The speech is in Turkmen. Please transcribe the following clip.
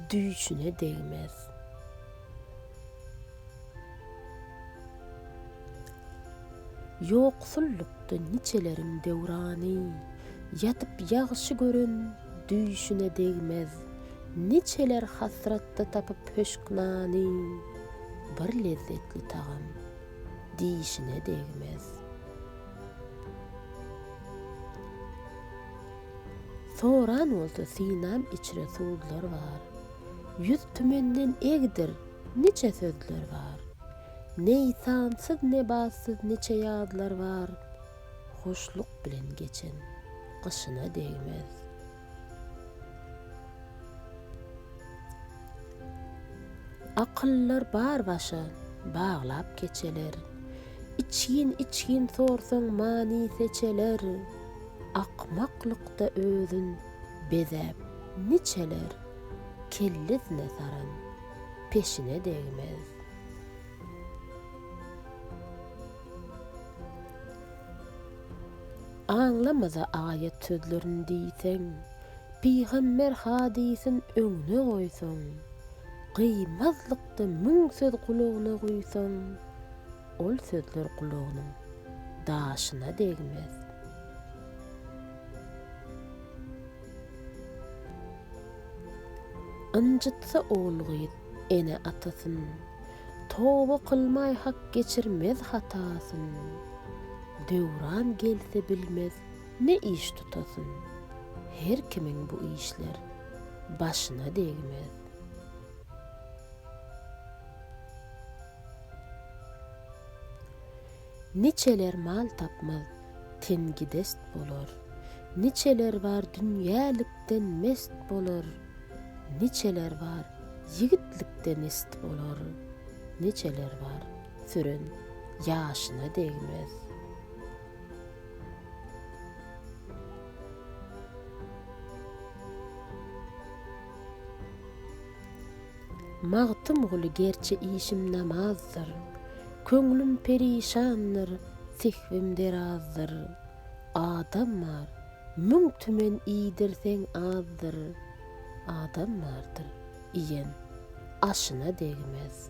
düýşüne degmez. Ýoksullukda niçeleriň döwrany, ýatyp ýagşy gören düýşüne degmez. Niçeler hasratda tapyp höşk nany, bir lezzetli tagam dişine degmez. Soran bolsa synam içre suzlar bar. Ýüz tümenden egdir niçe sözler bar. Neý sansyz ne batsyz niçe ýazlar bar. Hoşluk bilen geçen gyşyna degmez. Akyllar bar başa baglap keçeler. Içgin içgin sorsaň many seçeler. Akmaklykda özün bezäp niçeler kellesine saran peşine degmez. Aňlamaza aýat sözlerini diýseň, pygamber hadysyn öňüne goýsaň, gyýmazlykda müň söz gulagyna guýsaň, Ol sözler gulagynyň daşyna degmez. Ynjytsa ogul-gyz ene-atasyn, Toba kylmay hak geçirmez hatasyn. Döwran gelse bilmez ne iş tutasyn, Her kimiň bu işler başyna degmez. Niçeler mal tapmaz, tengidest bolar, Niçeler bar dünýälikden mest bolar, Niçeler bar ýigitlikde mest bolar, Niçeler bar süren ýaşyna degmez. Magtymguly Gerçi işim namazdyr, Köňlüm perişandyr, Sehwim derazdyr. Adam bar, müň tümen iýdirseň azdyr, Adam bardyr, iýen aşyna degmez.